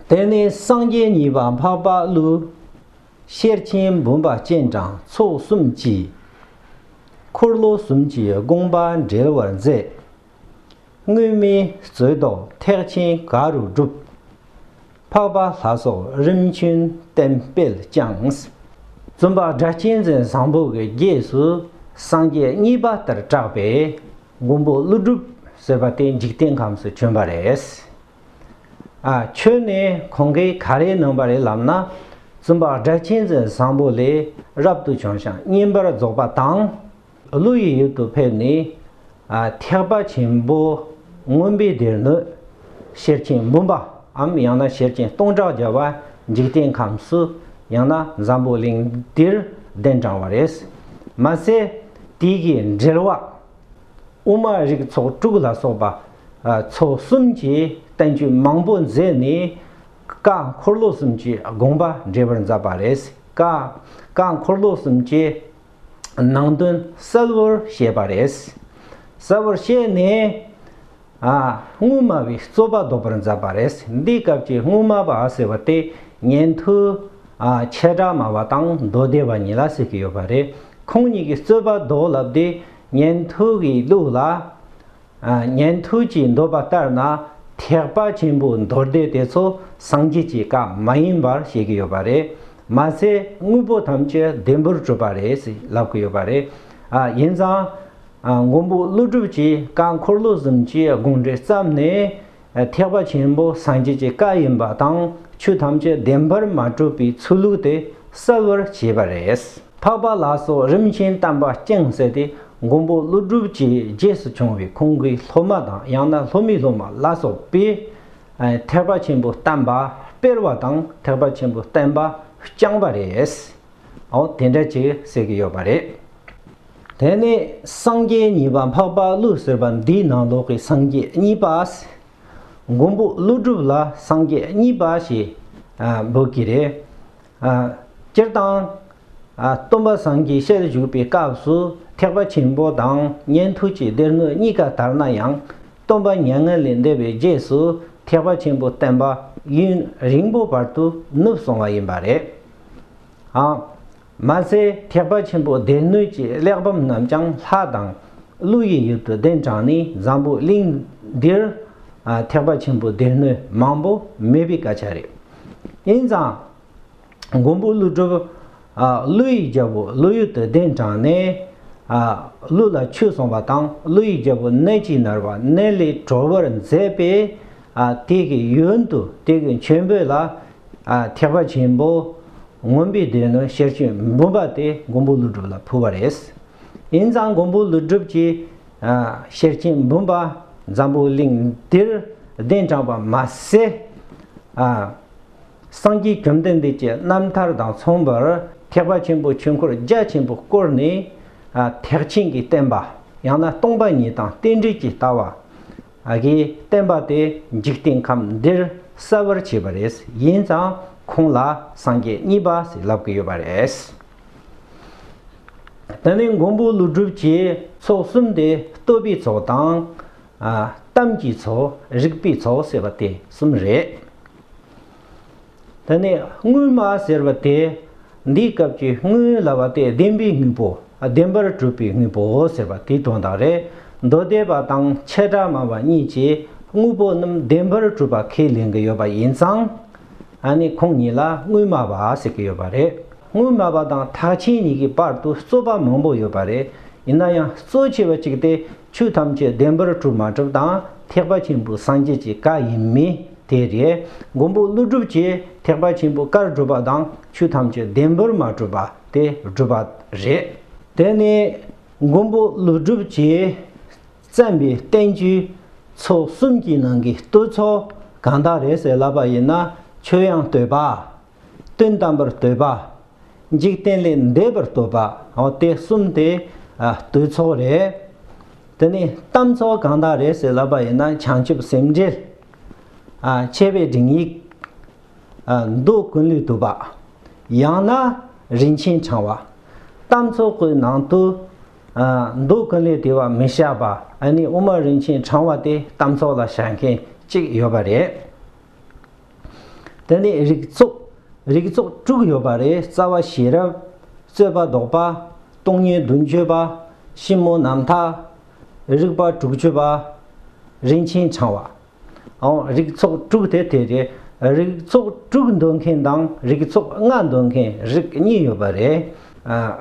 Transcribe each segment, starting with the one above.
དེ་ནས་སངས་རྒྱས་གཉིས་པ་འཕགས་པ་ཀླུ་ཤེར་ཕྱིན་བུམ་པ་སྤྱན་དྲངས་ཚོགས་གསུམ་གྱིས། འཁོར་ལོ་གསུམ་གྱི་དགོངས་པ་འགྲེལ་བར་མཛད། དངོས་མིན་རྩོད་ཟློག་ཐེག་ཆེན་ག་རུ་བསྒྲུབ། འཕགས་པ་ལྷ་སོགས་རིམ་བྱོན་བསྟན་སྤེལ་བསྐྱངས། བཙུན་པ་སྒྲ་གཅན་འཛིན་བཟང་པོ་གྱི་རྗེས་སུ་སངས་རྒྱས་གཉིས་པ་ལྟར་གྲགས་པས། མགོན་པོ་ཀླུ་སྒྲུབ་ཟེར་བ་དེ་འཇིག་རྟེན་ཁམས་སུ་བྱོན་པ་རེད། ཨ་ཁྱོད་ནི་གོང་གི་ག་རེ་གནང་བ་རེད་ལབ་ན་བཙུན་པ་སྒྲ་གཅན་འཛིན་བཟང་པོ་ལས་རབ་ཏུ་བྱུང་ཞིང་བསྙེན་པར་རྫོགས་པ་དང། ཀླུ་ཡི་ཡུལ་དུ་ཕེབས་ནས་ཐེག་པ་ཆེན་པོ་མངོན་པའི་སྡེར་ནུས། ཤེར་ཕྱིན་འབུམ་པའམ་ཡང་ན་ཤེར་ཕྱིན་སྟོང་ཕྲག་བརྒྱ་བ་འཇིག་རྟེན་ཁམས་སུ་ཡང་ན་འཛམ་བུ་གླིང་འདིར་གདན་དྲངས་བ་རེད། མ་ཟད། དེ་ཡི་འགྲེལ་བ། དབུ་མ་རིགས་ཚོགས་དྲུག་ལ་སོགས་པ། ཚོགས་གསུམ་གྱི་བསྟན་བཅོས་མང་པོ་མཛད་ནས། བཀའ་འཁོར་ལོ་གསུམ་གྱི་དགོངས་པ་འགྲེལ་པར་མཛད་པ་རེད། བཀའ་འཁོར་ལོ་གསུམ་གྱི་ནང་དོན་གསལ་བོར་བཤད་པ་རེད། གསལ་བོར་བཤད་ནས། དངུལ་སྨྲ་བའི་རྩོད་པ་བཟློག་པར་མཛད་པ་རེད། འདིའི་སྐབས་ཀྱི་དངུལ་སྨྲ་བ་ཟེར་བ་དེ་ཉན་ཐོས། ཆེ་དགྲ་སྨྲ་བ་དང་མདོ་སྡེ་བ་གཉིས་ལ་ཟེར་གྱི་ཡོད་པ་རེད། ཁོང་གཉིས་ཀྱི་རྩོད་པ་བཟློག་ལབ་དེ་ཉན་ཐོས་ཀྱི་ལུགས་ལ། ཉན་ཐོས་ཀྱིས་འདོད་པ་ལྟར་ན་ཐེག་པ་ཆེན་པོའི་མདོ་སྡེ་དེ་ཚོ་སངས་རྒྱས་ཀྱི་བཀའ་མ་ཡིན་པར་བཤད་ཀྱི་ཡོད་པ་རེད། མ་ཟད་དངོས་པོ་ཐམས་ཅད་བདེན་པར་གྲུབ་པ་རེད་ཟེར་ལབ་ཀྱི་ཡོད་པ་རེད། ཡིན་ཙང། མགོན་པོ་ཀླུ་སྒྲུབ་ཀྱིས་བཀའ་འཁོར་ལོ་གསུམ་གྱི་དགོངས་འགྲེལ་བརྩམས་ནས། ཐེག་པ་ཆེན་པོ་སངས་རྒྱས་ཀྱི་བཀའ་ཡིན་པ་དང་ཆོས་ཐམས་ཅད་བདེན་པར་མ་གྲུབ་པའི་ཚུལ་ལུགས་དེ་གསལ་བར་བྱས་པ་རེད། འཕགས་པ་ལ་སོགས་རིམ་བྱོན་དམ་པ་སྤྱན་གསལ་ཏེ་མགོན་པོ་ཀླུ་སྒྲུབ་ཀྱི་རྗེས་སུ་བྱུང་བའི་ཁོང་གི་སློབ་མ་དང་ཡང་ན་སློབ་མའི་སློབ་མ་ལ་སོགས་པས། ཐེག་པ་ཆེན་པོ་བསྟན་པ་སྤེལ་བ་དང་ཐེག་པ་ཆེན་པོ་བསྟན་པ་བསྐྱངས་པ་རེད། དེ་འདྲ་ཅིག་གསལ་གྱི་ཡོད་པ་རེད། དེ་ནས་སངས་རྒྱས་གཉིས་པ་འཕགས་པ་ཀླུ་ཟེར་བ་འདིས་ནང་ལོག་གི་སངས་རྒྱས་གཉིས་པས། མགོན་པོ་ཀླུ་སྒྲུབ་ལ་སངས་རྒྱས་གཉིས་པ་ཞེས་འབོད་ཀྱི་རེད། སྤྱིར་བཏང། སྟོན་པ་སངས་རྒྱས་ཤར་བཞུགས་པའི་སྐབས་སུ་ཐེག་པ་ཆེན་པོ་དང་ཉན་ཐོས་ཀྱི་སྡེར་དངོས་གཉིས་ཀ་དར་ན་ཡང། སྟོན་པ་མྱ་ངན་ལས་འདས་པའི་རྗེས་སུ་ཐེག་པ་ཆེན་པོ་བསྟན་པ་ཡུན་རིང་པོ་བར་དུ་ནུབ་སོང་བ་ཡིན་པ་རེད། མ་ཟད་ཐེག་པ་ཆེན་པོ་སྡེ་སྣོད་ཀྱི་གླེགས་བམ་རྣམས་ཀྱང་ལྷ་དང་ཀླུ་ཡི་ཡུལ་དུ་གདན་དྲངས་ནས་འཛམ་བུ་གླིང་འདིར་ཐེག་པ་ཆེན་པོའི་སྡེ་སྣོད་མང་པོ་མེད་པའི་སྐད་ཆ་རེད། ཡིན་ཙང། མགོན་པོ་ཀླུ་སྒྲུབ། ཀླུ་ཡི་རྒྱལ་པོ་ཀླུ་ཡུལ་དུ་གདན་དྲངས་ནས། ཀླུ་ལ་ཆོས་གསུངས་པ་དང་ཀླུ་ཡི་རྒྱལ་པོ་གནས་ཀྱི་ནར་བ་གནས་ལས་གྲོལ་བར་མཛད་པས། དེ་གའི་ཡུལ་དུ་དེ་གའི་མཆོད་འབུལ་ལ་ཐེག་པ་ཆེན་པོ་མངོན་པའི་དོན་ནི་ཤེར་ཕྱིན་བུམ་པ་སྟེ་མགོན་པོ་ཀླུ་སྒྲུབ་ལ་ཕུལ་བ་རེད། ཡིན་ཙང་མགོན་པོ་ཀླུ་སྒྲུབ་ཀྱིས་ཤེར་ཕྱིན་བུམ་པ་འཛམ་བུའི་གླིང་འདིར་གདན་དྲངས་པ་མ་ཟད། སངས་རྒྱས་བཅོམ་ལྡན་འདས་ཀྱི་རྣམ་ཐར་དང་མཚུངས་པར་ཐེག་པ་ཆེན་པོའི་ཆོས་འཁོར་རྒྱ་ཆེན་པོ་བསྐོར་ནས་ཐེག་ཆེན་གྱི་བསྟན་པ་ཡང་ན་སྟོང་པ་ཉིད་དང་རྟེན་འབྲེལ་གྱི་ལྟ་བ། ཨ་ཀིའི་བསྟན་པ་དེ་འཇིག་རྟེན་ཁམས་འདིར་གསལ་བར་བྱས་པ་རེད། ཡིན་ཙང་ཁོང་ལ་སངས་རྒྱས་གཉིས་པ་ཞིག་ལབ་ཀི་ཡོད་པ་རེད། ད་ནི་མགོན་པོ་ཀླུ་སྒྲུབ་ཀྱི་ཚོགས་གསུམ་དེ་བསྟོད་པའི་ཚོགས་དང། གཏམ་གྱི་ཚོགས་རིག་པའི་ཚོགས་ཟེར་བ་དེ་གསུམ་རེད། དེ་ནས་དངུལ་མ་ཟེར་བ་དེ་འདིའི་སྐབས་ཀྱི་དངུལ་ལ་བ་སྟེ་བདེན་པའི་དངོས་པོ་བདེན་པར་གྲུབ་པའི་དངོས་པོ་ཟེར་བ་དེའི་དོན་དག་རེད། མདོ་སྡེ་པ་དང་ཆེ་དགྲ་སྨྲ་བ་གཉིས་ཀྱིས་དངོས་པོ་རྣམས་བདེན་པར་གྲུབ་པ་ཁས་ལེན་གྱི་ཡོད་པ་ཡིན་ཙང། ད་ནི་ཁོང་གཉིས་ལ་དངུལ་སྨྲ་བ་ཟེར་གྱི་ཡོད་པ་རེད། དངུལ་སྨྲ་བ་དང་ཐག་ཆེན་གཉིས་ཀྱི་བར་དུ་རྩོད་པ་མང་པོ་ཡོད་པ་རེད། ཡིན་ན་ཡང་གཙོ་ཆེ་བ་གཅིག་སྟེ། ཆོས་ཐམས་ཅད་བདེན་པར་གྲུབ་མ་གྲུབ་དང་ཐེག་པ་ཆེན་པོའི་སངས་རྒྱས་ཀྱི་བཀའ་ཡིན་མིན་དེ་རེད། མགོན་པོ་ཀླུ་སྒྲུབ་ཀྱིས་ཐེག་པ་ཆེན་པོའི་བཀར་གྲུབ་པ་དང་ཆོས་ཐམས་ཅད་བདེན་པར་མ་གྲུབ་པ་དེ་སྒྲུབ་པ་རེད། དེ་ནི་མགོན་པོ་ཀླུ་སྒྲུབ་ཀྱིས་བརྩམས་པའི་བསྟན་བཅོས་ཚོ་གསུམ་གྱི་ནང་གི་བསྟོད་ཚོགས་གང་དག་རེད་ཟེར་ལབ་པ་ཡིན་ན་ཆོས་དབྱངས་བསྟོད་པ་དོན་དམ་པར་བསྟོད་པ། འཇིག་རྟེན་ལས་འདས་པར་བསྟོད་པ། དེ་གསུམ་དེ་བསྟོད་ཚོགས་རེད། དེ་ནས་གཏམ་ཚོགས་གང་དག་རེད་ཟེར་ལབ་པ་ཡིན་ན་བྱང་ཆུབ་སེམས་འགྲེལ། མཆེ་བའི་སྒྲིག་ཡིག། མདོ་ཀུན་ལུས་དུབ་པ། ཡང་ན་རིན་ཆེན་འཆང་བ། གཏམ་ཚོགས་ཀྱི་ནང་དུ། མདོ་ཀུན་ལུས་དེ་བ་མི་བྱ་བ་ཨ་ནི་དབུ་མ་རིན་ཆེན་འཆང་བ་དེ་གཏམ་ཚོགས་ལ་བྱ་མཁན་གཅིག་ཡོད་པ་རེད། དེ་ནས་རིགས་ཚོགས། རིགས་ཚོགས་དྲུག་ཡོད་པ་རེད་རྩ་བ་ཤེས་རབ། རྩོད་པ་ཟློག་པ། སྟོང་ཉིད་བདུན་སྤྱོད་པ། ཞིབ་མོ་རྣམ་དག། རིགས་པ་དྲུག་སྤྱོད་པ། རིན་ཆེན་འཆང་བ། ཨོ། རིགས་ཚོགས་དྲུག་དེ་དེ་རེད། རིགས་ཚོགས་དྲུག་འདོད་མཁན་དང་རིགས་ཚོགས་ལྔ་འདོད་མཁན་རིགས་གཉིས་ཡོད་པ་རེད།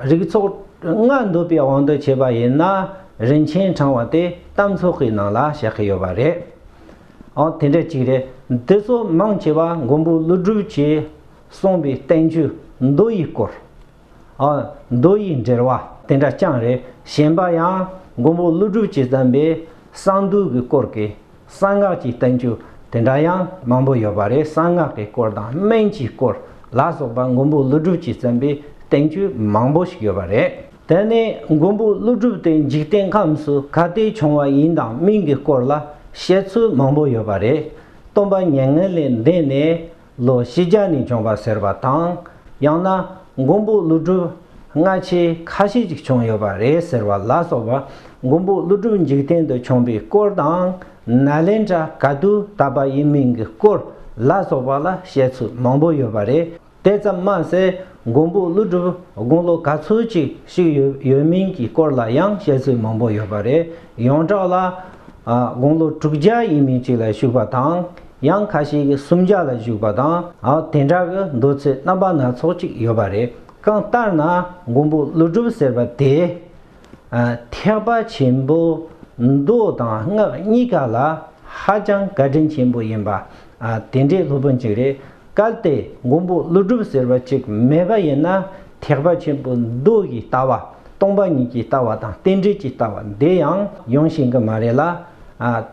རིགས་ཚོགས་ལྔ་འདོད་པའི་དབང་དུ་བྱས་པ་ཡིན་ན་རིན་ཆེན་འཆང་བ་དེ་གཏམ་ཚོགས་ཀྱི་ནང་ལ་བཤད་ཀྱི་ཡོད་པ་རེད། ཨང་དེ་འདྲ་ཅིག་རེད། འདི་ཚོ་མང་ཆེ་བ་མགོན་པོ་ཀླུ་སྒྲུབ་ཀྱིས་གསུངས་པའི་བསྟན་བཅོས་མདོ་ཡི་སྐོར། ཨང། མདོ་ཡི་འགྲེལ་བ་དེ་འདྲ་རྐྱང་རེད། གཞན་པ་ཡང་མགོན་པོ་ཀླུ་སྒྲུབ་ཀྱིས་བརྩམས་པའི་གསང་འདུས་ཀྱི་སྐོར་གྱི་གསང་སྔགས་ཀྱི་བསྟན་བཅོས་དེ་འདྲ་ཡང་མང་པོ་ཡོད་པ་རེད་གསང་སྔགས་ཀྱི་སྐོར་དང་སྨན་གྱི་སྐོར་ལ་སོགས་པ་མགོན་པོ་ཀླུ་སྒྲུབ་ཀྱིས་བརྩམས་པའི་བསྟན་བཅོས་མང་པོ་ཞིག་ཡོད་པ་རེད། དེ་ནས་མགོན་པོ་ཀླུ་སྒྲུབ་དེ་འཇིག་རྟེན་ཁམས་སུ་ག་དུས་བྱུང་བ་ཡིན་དང་མིན་གྱི་སྐོར་ལ་བཤད་ཚུལ་མང་པོ་ཡོད་པ་རེད། སྟོན་པ་མྱ་ངན་ལས་འདས་ནས་ལོ་བཞི་བརྒྱ་ནས་བྱུང་བ་ཟེར་བ་དང། ཡང་ན་མགོན་པོ་ཀླུ་སྒྲུབ་སྔ་ཕྱི་ཁ་ཤས་ཅིག་བྱུང་ཡོད་པ་རེད་ཟེར་བ་ལ་སོགས་པ་མགོན་པོ་ཀླུ་སྒྲུབ་འཇིག་རྟེན་དུ་བྱུང་པའི་སྐོར་དང་ནཱ་ལེནྡྲ་ག་དུས་དར་པ་ཡིན་མིན་གྱི་སྐོར་ལ་སོགས་པ་ལ་བཤད་ཚུལ་མང་པོ་ཡོད་པ་རེད། དེ་ཙམ་མ་ཟད་མགོན་པོ་ཀླུ་སྒྲུབ་དགུང་ལོ་ག་ཚོད་ཅིག་ཞིག་ཡོད་ཡོད་མིན་གྱི་སྐོར་ལ་ཡང་བཤད་ཚུལ་མང་པོ་ཡོད་པ་རེད་ཡོངས་གྲགས་ལ། དགུང་ལོ་དྲུག་བརྒྱ་ཡིན་མིན་ཅིག་ལ་བཞུགས་པ་དང། ཡང་ཁ་ཞིག་གིས་སུམ་བརྒྱ་ལ་བཞུགས་པ་དང་དེ་འདྲ་གི་འདོད་ཚུལ་རྣམ་པ་སྣ་ཚོགས་ཅིག་ཡོད་པ་རེད། གང་ལྟར་ན་མགོན་པོ་ཀླུ་སྒྲུབ་ཟེར་བ་དེ། ཐེག་པ་ཆེན་པོ་མདོ་དང་སྔགས་གཉིས་ཀ་ལ་ཧ་ཅང་བཀའ་དྲིན་ཆེན་པོ་ཡིན་པ་དེ་འདྲའི་སློབ་དཔོན་ཅིག་རེད། གལ་ཏེ་མགོན་པོ་ཀླུ་སྒྲུབ་ཟེར་བ་ཅིག་མེད་པ་ཡིན་ན་ཐེག་པ་ཆེན་པོ་མདོ་ཡི་ལྟ་བ་སྟོང་པ་ཉིད་ཀྱི་ལྟ་བ་དང་རྟེན་འབྲེལ་གྱི་ལྟ་བ་འདི་ཡང་ཡོང་ཤེས་ཀྱི་མ་རེད་ལ།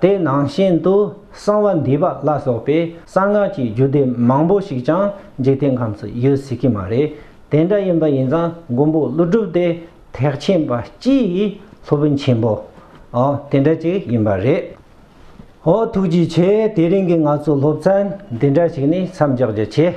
དེ་ནང་བཞིན་དུ་གསང་བ་འདུས་པ་ལ་སོགས་པའི་གསང་སྔགས་ཀྱི་རྒྱུད་སྡེ་མང་པོ་ཞིག་ཀྱང་འཇིག་རྟེན་ཁམས་སུ་ཡོད་སྲིད་ཀྱི་མ་རེད། དེ་འདྲ་ཡིན་པ་ཡིན་ཙང་མགོན་པོ་ཀླུ་སྒྲུབ་དེ་ཐེག་ཆེན་པ་སྤྱིའི་སློབ་དཔོན་ཆེན་པོ་དེ་འདྲ་ཅིག་ཡིན་པ་རེད། ཨོ་ཐུགས་རྗེ་ཆེ་དེ་རིང་གི་ང་ཚོ་སློབ་ཚན་འདི་འདྲ་ཞིག་ནི་མཚམས་འཇོག་རྒྱུ་ཆེ།